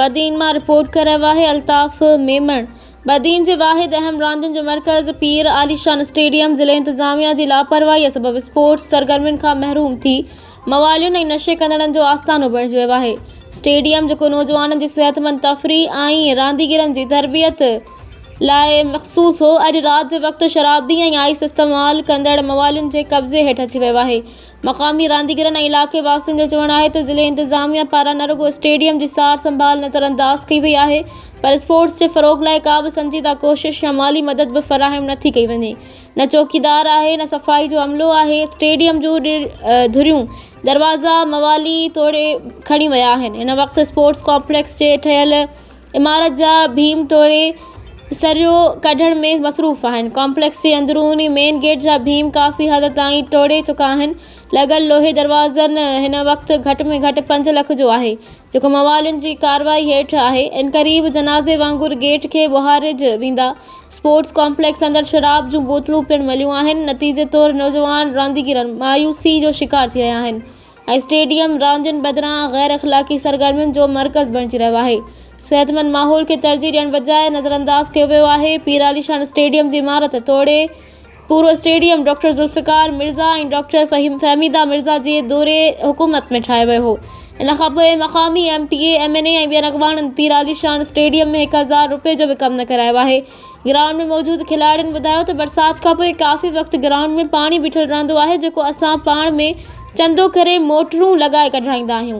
بدين مان رپورٽ ڪري رهيو آهي الطاف ميمڻ. بدين جي واحد اهم راندين جو مرڪز پير عاليشان اسٽيڊيم ضلعي انتظاميا جي لاپرواهي سبب اسپورٽس سرگرمين کان محروم ٿي موالين ۽ نشي ڪندڙن جو آستانو بڻجي ويو آهي اسٽيڊيم جيڪو نوجوانن جي صحتمند تفريح ۽ رانديگرن جي تربيت لاء مخصوص هو اڄ رات جي وقت شرابي ۽ آئس استعمال ڪندڙ موالين جي قبضي هيٺ اچي ويو آهي مقامي رانديگرن ۽ علائقي واسين جو چوڻ آهي ته ضلعي انتظاميا پاران نه رڳو اسٽيڊيم جي سار سنڀال نظر انداز ڪئي وئي آهي پر اسپورٽس جي فروغ لاء ڪا به سنجيده ڪوشش يا مالي مدد به فراهم نه ٿي ڪئي وڃي نه چوڪيدار آهي نه صفائي جو عملو آهي اسٽيڊيم جون ڌريون دروازا موالي توڙي کڻي ويا آهن هن وقت اسپورٽس ڪامپليڪس جي ٺهيل عمارت جا ڀيم ٽوڙي سريو ڪڍڻ ۾ مصروف آهن. ڪامپليڪس جي اندروني مين گيٽ جا ڀيم ڪافي حد تائين ٽوڙي چڪا آهن. لڳل لوهي دروازن هن وقت گهٽ ۾ گهٽ پنج لک جو آهي، جيڪو موالين جي ڪارروائي هيٺ آهي. عنقريب جنازي وانگر گيٽ کي ٻهارج ويندا. اسپورٽس ڪامپليڪس اندر شراب جون بوتلون پڻ مليون آهن. نتيجي طور نوجوان رانديگر مايوسي جو شڪار ٿي رهيا آهن. اسٽيڊيم راندين بدران غير اخلاقي سرگرمين جو مرڪز بڻجي رهيو آهي، صحتمند ماحول کي ترجيح ڏيڻ بجاء نظرانداز ڪيو ويو آهي، پير علي شان اسٽيڊيم جي عمارت توڙي پورو stadium doctor Zulfiqar Mirza ۽ doctor Fahmida Mirza جي دور حڪومت ۾ ٺاهيو ويو هو، ان کانپوء مقامي M P A, M N A ۽ ٻين اڳواڻن پير علي شان اسٽيڊيم ۾ هڪ هزار روپيه جو به ڪم نه ڪرايو آهي. گرائونڊ ۾ موجود کلاڙين ٻڌايو ته برسات کانپوء ڪافي وقت گرائونڊ ۾ پاڻي بيٺل رهندو آهي جيڪو اسان پاڻ ۾ چندو ڪري موٽرون لڳائي ڪڍرائيندا آهيون